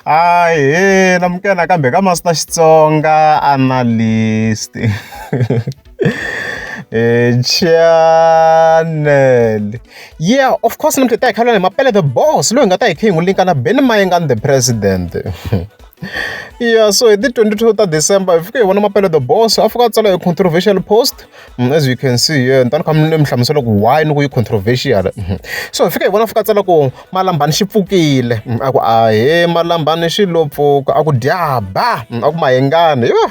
Ahee amukela nakambe ka Master Xitsonga Analyst channel yeah of course namuntlha ta hi khalwa ni mapele the boss loyi nga ta hi kha hi n'wi linka na Benny Mayengan the president yeah so hi ti 22 ta December hi fike hi vona mapele the boss a fika a tsala hi controversial post Mm, as you can see here ni ta ni kha ni hlamusela ku why ni ku yi controversial mm-hmm. so hi fika hi vona fika tsala ku malambani xi pfukile mm, a ku a he malambani xi lo pfuka a ku dyaba mm, a ku mahengani yo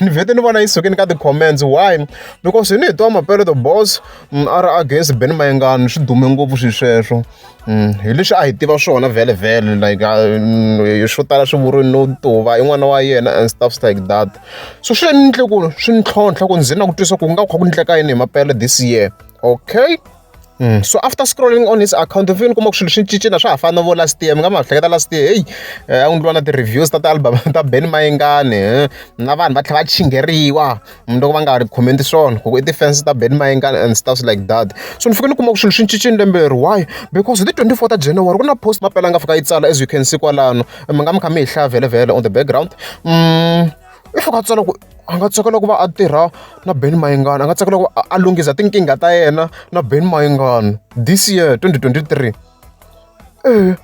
ni vhete ni vona yi sukini ka ti-comments why because hi ni hi twa mapeleto boss a ri against ben mahengani swi dume ngopfu swi sweswo hi leswi a hi tiva swona vhele vhele like mm, swo tala swi vuriwe no tuva i n'wana wa yena and stuffs like that so swi ni endle ku swi ni tlhontlha ku ndzi na ku twisa ku nga kha ku ndleka yini hi mapele this year okay Mm. so after scrolling on his account mfike ni kuma ku swilo swi cincina swa ha fana vo last year mi nga ma hleketa last year heyi eh, a ku ndliwa na ti-reviews ta ti-album ta ben mayengani eh. na vanhu va tlhela va chingeriwa mundzuku loko va nga ha ri comment swona ku i ti-fans ta Ben Mayenga and stuff like that so ni fike ni kuma ku swilo swi cincile lembe leri why because hi ti 24 ta January ku na post mapela nga fika yi tsala as you can see kwalano mi nga mi kha mi hi hlaya vhelevhele on the background mm, i fika tsala ku a nga tsakela ku va a tirha na Ben Mayengana a nga tsakela ku a lunghisa tinkingha ta yena na Ben Mayengana this year 2023 eh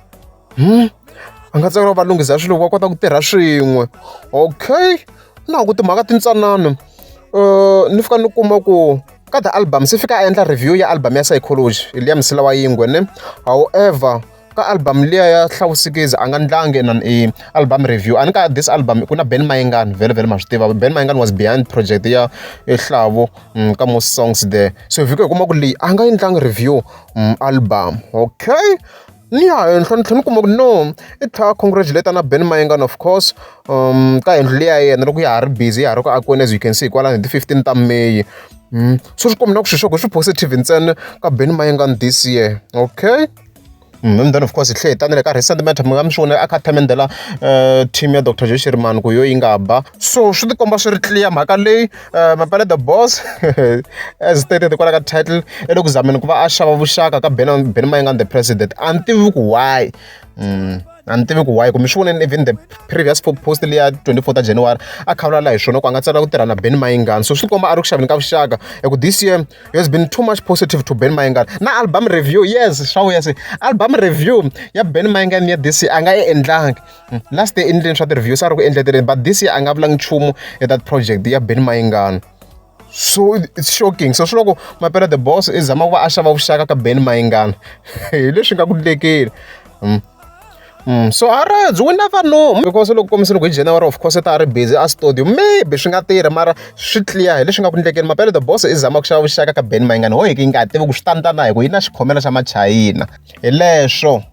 a nga tsakela va lunghisa swilo va kota ku tirha swin'we okay na ha ku timhaka tintsanana ni fika ni kuma ku ka the album se fika a endla review ya album ya psychology hi liya msila wa yingwe ne however ka album liya ya hlawusikizi a nga ndlangi na i album review a ni ka this album ku na ben mayengani vhele vhele ma swi tiva ben mayengani was behind project ya ehlavo mm, ka most songs there so vhiko hi kuma ku leyi a nga yi ndlangi review mm, album okay Ni ya hi ntlhontlho ni kuma ku no i tlhela a congratulate-a na Ben Mayengani of course ka yindlu leyi ya yena loko ya ha ri busy ya ha ri ku akiweni as you can see hikwalaho hi ti-fifteen ta May. So swi komba na ku swilo swa kona swi positive ntsena ka Ben Mayengani this year okay. And then of course hi tlhela hi ta na le ka recent matter mi nga mi swi vona a kha a themendela team ya doctor Joe Shirimani ku hi yona yi nga ba so swi tikomba swi ri clear mhaka leyi. Eh, mapele the boss as stated kwala ka title i le ku zameni ku va a xava vuxaka ka ben ben mayingani the president a ni tivi ku why mm. a ni tivi ku why kumbe swi voneni even the previous post leya 24 ta january a khavulala hi swona ku a nga tsala ku tirha na ben mayingani so swi komba a ri ku xaveni ka vuxaka hi ku this year has been too much positive to ben mayingani na album review yes swa vuya se album review ya ben mayingani ya this year a nga yi endlangi hmm, last day endleni swa ti-review se a ri ku endleteleni but this year a nga vulangi nchumu hi that project ya beni mayingano so it's shocking so swi loko mapela the boss i zama ku va a xava vuxaka ka ben mayingana hi leswi nga ku lekeli hmm. hmm. so a ri byi wina vanhu because loko kombisa loko hi january of course ta ri busy a studio maybe swi nga tirhi mara swi clear hi leswi nga ku ndlekeni mapele the boss i zama ku xava vuxaka ka ben mayingana ho hi ki nga tivi ku swi tandana hi ku yi na xikhomela xa machayina hi leswo